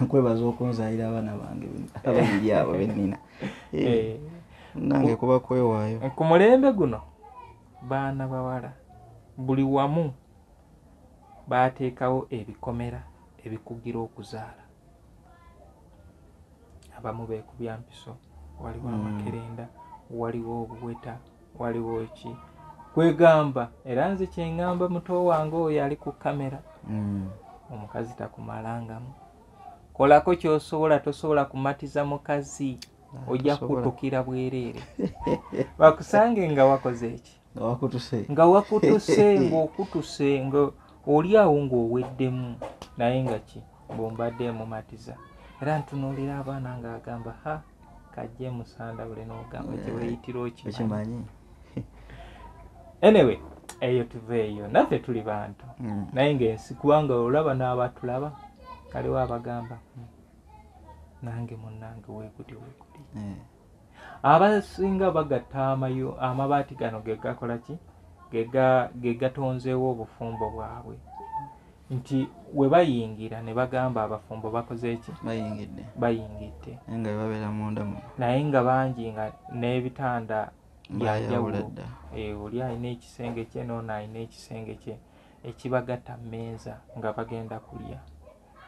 kwebaza okunzalira abaana bange ababiri abo benina eh, eh. nange kuba kwewaayo eh, ku mulembe guno baana bawala buli wamu baateekawo ebikomera ebikugira okuzaala abamu beekubya mpiso waliwo hmm. amakerenda waliwo obuweta waliwo ki kwegamba era nze kyengamba muto wange oyo ali ku kamera hmm. omukazi takumalangamu kolako kyosobola tosobola kumatiza mukazi ojja kutukira bwereere bakusange nga wakoze eki nga wakutuse ngaokutuse nga oli awo ngaoweddemu naye nga ki bombadde mumatiza era ntunuulira abaana ngaagamba ha kajje musanda bule nogamba kyeweyitira eh, okimanyi anyway eyo tuva eyo naffe tuli bantu mm. naye ngaensi kubanga olaba n'abatulaba kaliwo abagamba hmm, nange munange wekutyo wekutyo eh. abasinga bagatta amayo amabaati gano gegakola ki gegatonzeewo obufumbo bwabwe nti we bayingira ne bagamba abafumbo bakoze eki bayingidde bayingidde nga babeera munda mu naye nga bangi nga n'ebitanda byajawulo eh, oli alina ekisenge kye noona alina ekisenge kye ekibagatta mmeeza nga bagenda kulya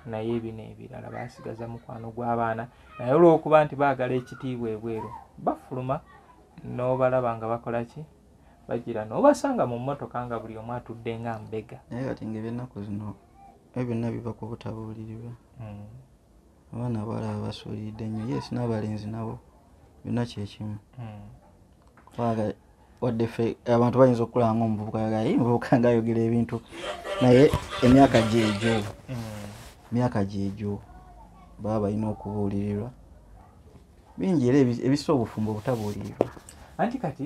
naye bino ebirala basigaza mukwano gw'abaana naye olw'okuba nti baagala ekitiibwa ebweru bafuluma n'obalaba nga bakola ki bagira n'obasanga mu mmotoka nga buli omu atudde nga mbega naye kati nga ebyennaku zino ebyo byonna biva ku butabuulirirwa hmm. abaana abalaba basuulidde nnyo yes n'abalenzi nabo byonna kyekimu hmm. wadde ffe abantu bayinza okukulaba nga omuvubuka yagaye muvubuka nga ayogera ebintu naye emyaka gyegyo hmm. emyaka gyegyo baba balina okubuulirirwa bingi era ebisa obufumbo obutabuulirirwa anti kati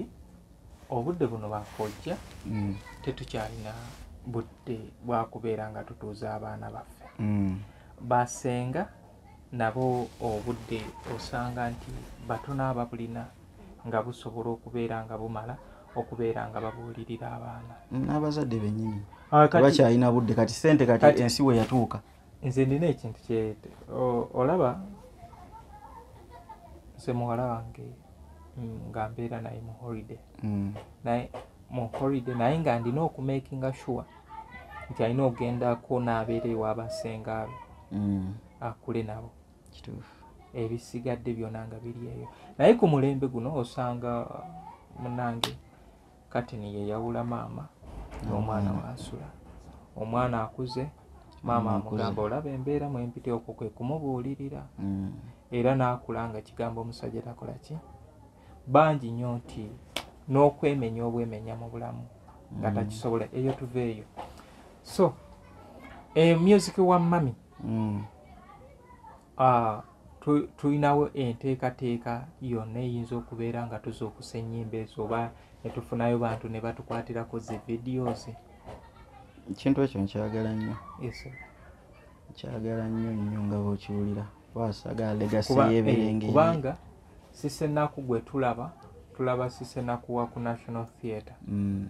obudde buno bakojja hmm. tetukyalina budde bwakubeera nga tutuuza abaana baffe hmm. basenga nabo obudde osanga nti batono ababulina nga busobola okubeera nga bumala okubeera nga babuulirira abaana n'abazadde benyini ah, bakyalina budde kati sente kati ensi we yatuuka nze ndina ekintu kye olaba nze muwala wange mm, nga mbeera naye mu holiday mm. naye mu holiday naye nga ndina okumakinga sure nti alina okugendako n'abeera ewabasenga be mm. akule nabo kituufu ebisigadde byona nga biri eyo naye ku mulembe guno osanga munange katini yeyawula maama n'omwana wansula omwana akuze maama amugamba olaba embeera mwempite okwo kwe kumubuulirira mm. era n'akula nga kigambo omusajja takola ki bangi nnyo nti n'okwemenya obwemenya mu bulamu nga mm. takisobola eyo tuva eyo so eh, music wa mami mm. ah, tulinawo enteekateeka yonna eyinza okubeera nga tuzuukusa ennyimba ezo oba netufunayo bantu ne batukwatirako zi videos ekintu ekyo nkyagala nnyo nkyagala nnyo nnyo nga bwekiwulira wasaga legasi yeberenge eh, kubanga sisenaku gwe tulaba tulaba sisenaku wa ku national theatre mm.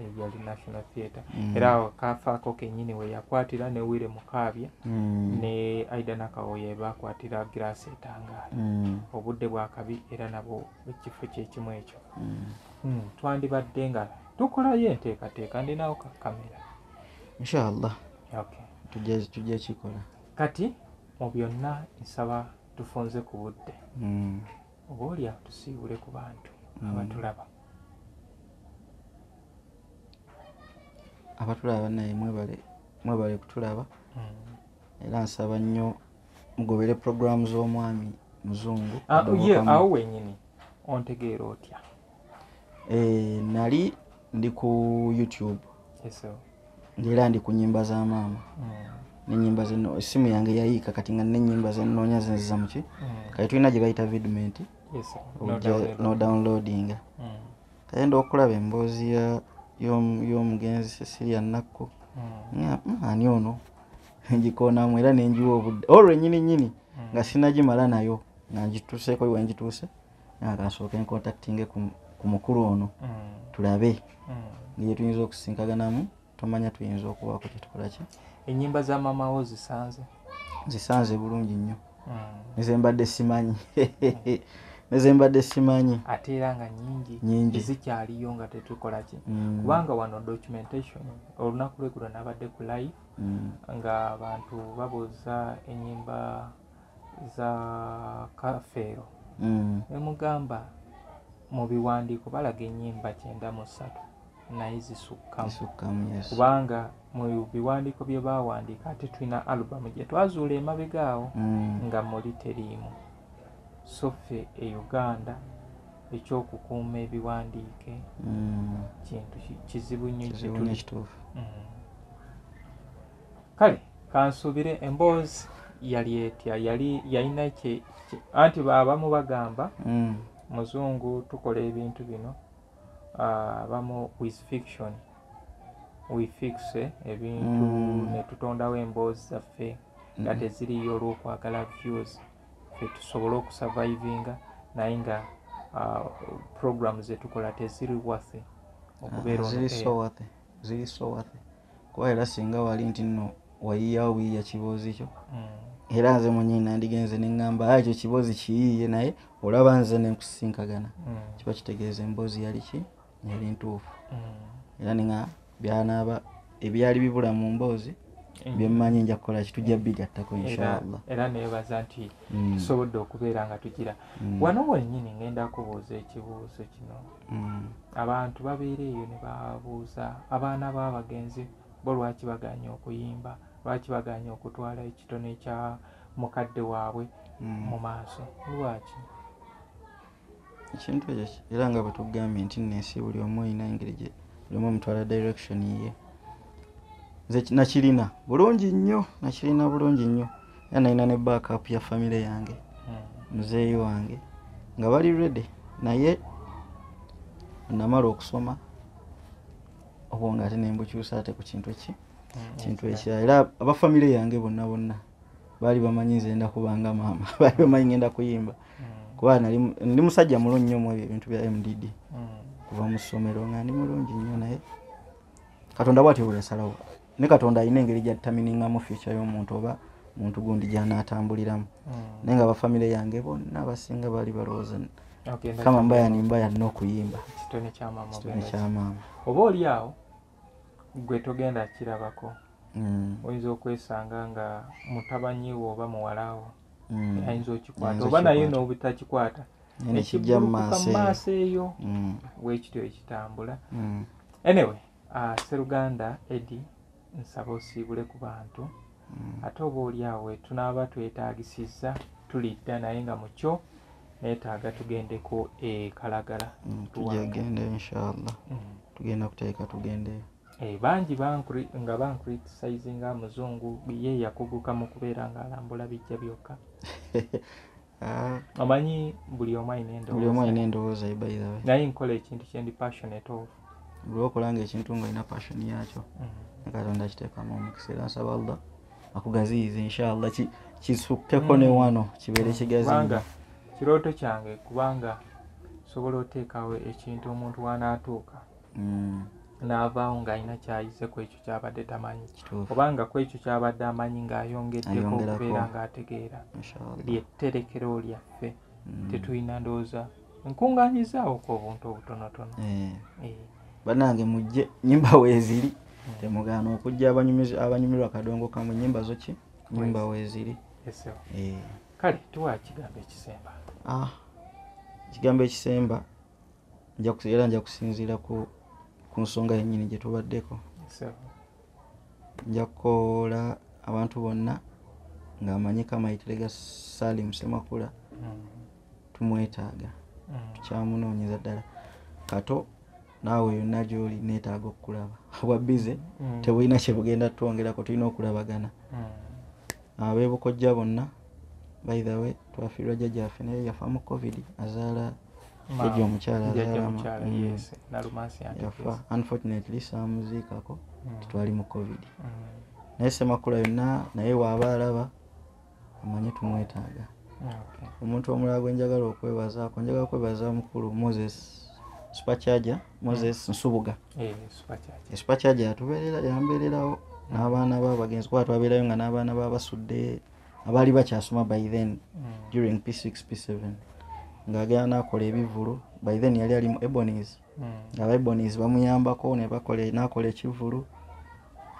eyali national theatre mm. era awo kafaako kenyini weyakwatira ne wire mukaabya mm. ne aida nakawoye bakwatira girasi etangaala mm. obudde bwakabi era nabo ekifo kyekimu ekyo twandibadde nga tukolayo enteekateeka ndinawo kakamera inshallah tujja kikola kati mu byonna nsaba tufunze ku budde oba oli awo tusiibule ku bantu mm. abatulaba abatulaba naye mwebale mwebale kutulaba mm. era nsaba nnyo mugobere puroguramu z'omwami muzungu ah, ye awo wenyini ontegeera otya eh, nali ndi ku youtube ngaera ndi ku nyimba za maama mm. nenyimba zino esimu yange yayiika kati nga nenyimba zenoonya zinziza muki mm. kati tulina gye bayita vidment nodownloadinga mm. kayenda okulaba emboozi y'omugenzi cecilia nakku ani ono ngikoonamu era nenjiwa obudde olwo enyini nyini nga sinagimala nayo nga ngituseeko wengituuse akansooka enkontaktinge ku mukulu ono mm. tulabe ngeri tuyinza okusinkaganamu tomanya tuyinza okubaako kyetukolaki enyimba za mamawo zisanze zisanze bulungi nnyo nezembadde simanyi nezembadde simanyi ate era nga nyingi nyingi zikyaliyo nga tetukolaki mm. kubanga wano documentation olunaku lwegulo nabadde ku live mm. nga abantu babuuza enyimba za kafeero mm. nemugamba mu biwandiiko balaga ennyimba kyenda mu ssatu naye zisukkamu kubanga mu biwandiiko bye baawandiika ate tulina alubamu gye twazuula emabega awo mm. nga muli teriimu so ffe e uganda ekyokukuuma ebiwandiike mm. kintu kizibu nnyo kituli kale kansuubire emboozi yali etya yali yalina kye kye- anti abamu bagamba Mm. muzungu tukola ebintu bino ah, abamu with fiction we fixe ebintu Mm. ne tutondawo emboozi zaffe nga teziriyo olw'okwagala views fe tusobole okusurvivinga naye nga ah, program zetukola teziri wathe okubeera on ziri air. so worthy ziri so worthy kuba era singa wali nti nno wayiyawo buyiya kiboozi kyo mm. era nze mwenyeyi nandigenze neŋŋamba a ekyo kiboozi kiyiiye naye olaba nze nenkusisinkagana mm. kiba kitegeeza emboozi yali ki yali ntuufu mm. era ninga byanaaba ebyali bibula mu mboozi mm. byemmanyi nja kukola ki tujja bigattako inshaallah era nebaza nti mm. tusobodde okubeera nga tugira mm. wano wenyini ngenda kubuuza ekibuuzo kino mm. abantu babeera eyo ne babuuza abaana b'abagenzi bo lwaki baganye okuyimba lwaki baganye okutwala ekitone ekya mukadde waabwe mm. mu maaso lwaki ekintu ekyo era nga bwetugambye nti nensi buli omu olina engeri gye buli omu omutwala direction ye nze nakirina bulungi nnyo nakirina bulungi nnyo era nalina ne backup ya famire yange muzeeyi wange nga bali ready naye namala okusoma obwo nga ate nembukyusa ate ku kintu eki mm, kintu ekya era abafamire yange bonna bonna baali bamanyi nze enda kubanga maama baali bamanyi ngenda kuyimba mm. kuba ndi musajja mulungi nyo omwebyo ebintu bya mdd mm. kuva mu ssomero nga ndi mulungi nnyo naye katonda bwatyo bweyasalawo ne katonda alina engeri gyataminingamu fyuca y'omuntu oba muntu gundi gyanaatambuliramu hmm. naye nga bafamire yange bonna abasinga baali balowooza kama mbaya ni mbaya nina okuyimba kitone kyamaama oba oli awo gwe togenda kirabako hmm. oyinza okwesanga nga mutabanyiwo oba muwalawo hmm. ayinza okikwata oba naye n'obutakikwata ekijja mu maaso eyo bwekityo ekitambula anyway Ah, seruganda edi nsaba osiibule ku bantu hmm. ate oba oli awo wetunaaba twetaagisizza tulidda naye nga mukyo netaaga tugendeko ekalagala hmm, tujegende inshallah hmm. tugenda kuteeka tugende eh, bangi nga bankritisayizi nga muzungu ye yakuguka mu kubeera ng'alambula bijja byokka Ah. omanyi buli omu alina endowooza naye nkola ekintu kyendi passionate of buli okola nga ekintu nga olina passion yakyo mm-hmm. nekatonda kiteekamu omukisa era nsaba allah akugaziyiza inshallah kisukkeko ne mm. wano kibeere mm. kigaziyiza kirooto kyange kubanga osobola oteekawo ekintu omuntu wanaatuuka mm. n'avaawo ng'alina kyayize ku ekyo kyabadde tamanyi obanga ku ekyo kyabadde amanyi ng'ayongeddeko okubeera ng'ategeera lyetterekero lyaffe mm. tetulina ndowooza nkungaanyizaawoku obuntu obutonotono eh. Eh. banange mujje nyimba weeziri mm. temugaana okujja abanyumirwa kadongo kamwe nyimba zoki nyimba weeziri eh. kale tuwa ekigambo ekisemba ah, ekigambo ekisemba era nja kusinziira ku nsonga yennyini gye tubaddeko nja kukoola abantu bonna ng'amanyika amayitire ga salim semakula mm. tumwetaaga mm. tukyamunoonyeza ddala kato naawe yonna gyoli neetaaga okukulaba obwa bize mm. tebulina kyebugenda twongerako tulina okulabagana mm. abeebukojja bonna baithawe twafiirwa jjajjaffe naye yafa mu covid azaala Jajja omukyala yafa unfortunately saamuziikako mm. titwali mu covid mm. naye semakula yonna naye waaba alaba amanye tumwetaaga omuntu omulala gwe njagala okwebazaako njagala kwebaza mukulu moses supercharge moses mm. nsubuga eh, supercharge yatubeerera yambeererawo n'abaana ba bagenzi kuba twabeerayo nga n'abaana ba basudde abaali bakyasoma by then mm. during p6 p7 ng'agenda n'akola ebivulu by then yali ali mu ebonies mm. ng'aba ebonies bamuyambako n'akola ekivulu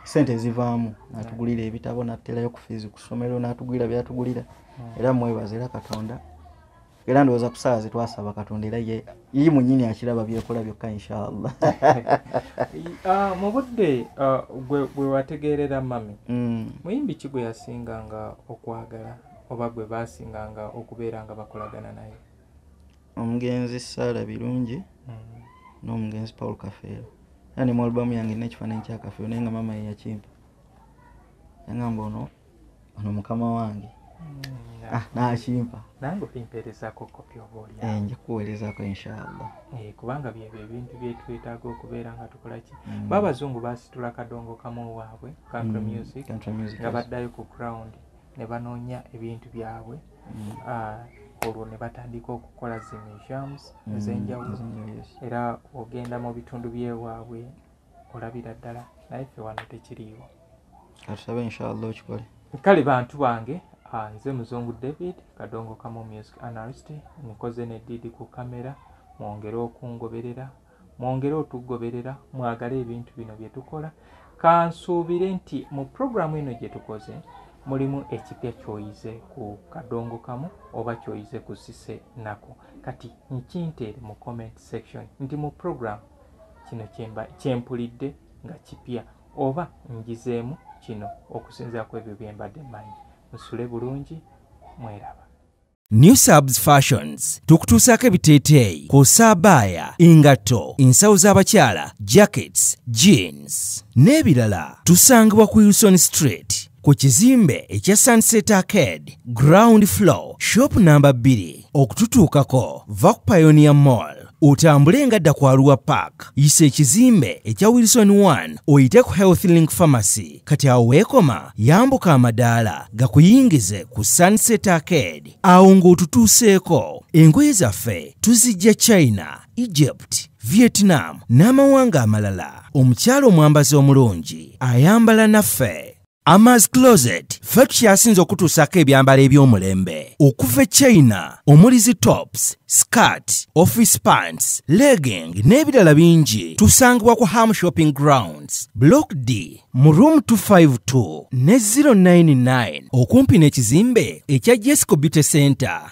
sente ezivaamu n'atugulira ebitabo n'aterayo ku fiizi ku ssomero n'atugulira by'atugulira mm. era mwebaza era katonda era ndowooza kusaawa zetwasaba katonda era ye yi munyini akiraba byekola byokka inshallah ah, mu budde ah, gwe wategeerera mami mm. muyimbi ki gwe yasinga nga okwagala oba gwe basinga nga okubeera nga bakolagana naye omugenzi saala birungi mm. n'omugenzi paul kafeero era ne mu albamu yange nekifaananyi kyakafeero naye nga mama yeyakimpa yangamba ono ono mukama wange mm, ah, nakimpa nange olimpeerezako kopi oba olya eh, nja kuweerezako inshallah eh, kubanga byebyo ebintu byetwetaaga okubeera nga tukolaki mm. ba abazungu basitula kadongo kamu waabwe country mm, music nga baddayo ku ground ne banoonya ebintu byabwe ah, olwo ne batandika okukola zi museums ezenjawulo era ogenda mu bitundu byewaabwe olabira ddala naye ffe wano tekiriiwo katusabe inshallah okikole kale bantu bange ah, nze muzungu david kadongo kamu music analyst nkoze ne didi ku kamera mwongere okungoberera mwongere otugoberera mwagale ebintu bino bye tukola kansuubire nti mu puroguramu eno gye tukoze mulimu ekipya kyoyize ku kadongo kamu oba kyoyize ku sise nako kati nkinteere mu comment section nti mu puroguramu kino kye mpulidde nga kipya oba njizeemu kino okusinzira ku ebyo bye mbadde mmanyi nsule bulungi mweraba new subs fashions tukutuusaako ebiteeteeyi kw'ossa abaaya engatto ensawo z'abakyala jackets jeans n'ebirala tusangibwa ku wilson street ku kizimbe ekya sunset arcade ground floor shop namba 2 okututuukako va ku pionia mall otambule nga dda ku aluwa park yisa ekizimbe ekya wilson 1 oyite ku health link pharmacy kati awo weekoma yambuka amadaala gakuyingize ku sunset arcade awo ng'otutuuseeko engoye zaffe tuzijja china egypt vietnam n'amawanga amalala omukyalo omwambazi omulungi ayambala naffe Ama's Closet ffe tukyasinze okutuusaako ebyambalo eby'omulembe okuva e China omuli zi tops, skirt, office pants, legging n'ebirala bingi tusangibwa ku Ham Shopping Grounds, Block D mu room 252 ne 099 okumpi n'ekizimbe ekya Jesco Beauty Center.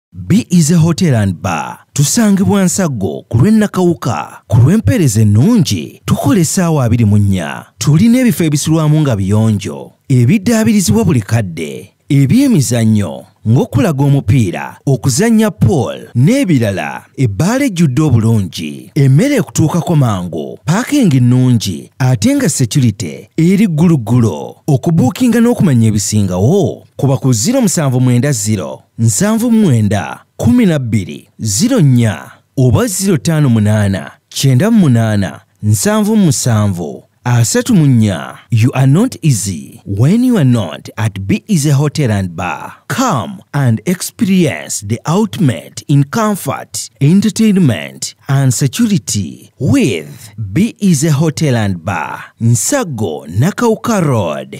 Be Easy Hotel and Bar tusangibwa Nsaggo ku lw'e Nakawuka ku lw'empeereza ennungi tukola essaawa abiri mu nnya tulina ebifo ebisulwamu nga biyonjo ebiddaabirizibwa buli kadde eby'emizannyo ng'okulaga omupiira okuzannya pool n'ebirala ebbaala ejjudde obulungi emmere ekutuukako mangu paakingi nnungi ate nga securite eri gguluggulo okubuukinga n'okumanya ebisingawo kuba ku 070 nsanvu mwenda kumi na bbiri ziro nnya oba ziro ttaano munaana kyenda munaana nsanvu musanvu asatu mu nnya you are not easy when you are not at be easy hotel and bar come and experience the ultimate in comfort entertainment and security with be easy hotel and bar nsago nakauka road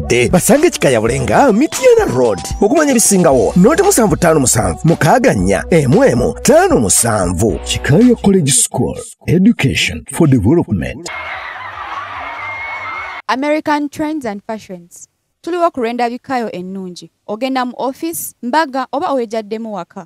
bafudde basange kikayabule nga mityana road okumanya ebisingawo noti musanvu ttaano musanvu mukaaga nnya emu emu ttaano musanvu kikaya college school education for development american trends and fashions tuliwo ku lw'endabikayo ennungi ogenda mu office mbaga oba owejaddemu waka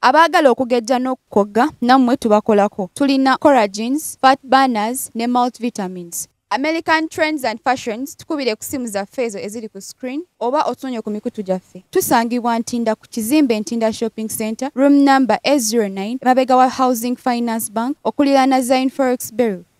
abaagala okugejja n'okukogga nammwe tubakolako tulina coragins fat banners ne multivitamins American Trends and Fashions tukubire ku simu zaffe ezo eziri ku screen oba otunonye ku mikutu gyaffe. Tusangibwa Ntinda ku kizimbe Ntinda Shopping Center, room number A09, mabega wa Housing Finance Bank, okuliraana Zion Forex Bureau.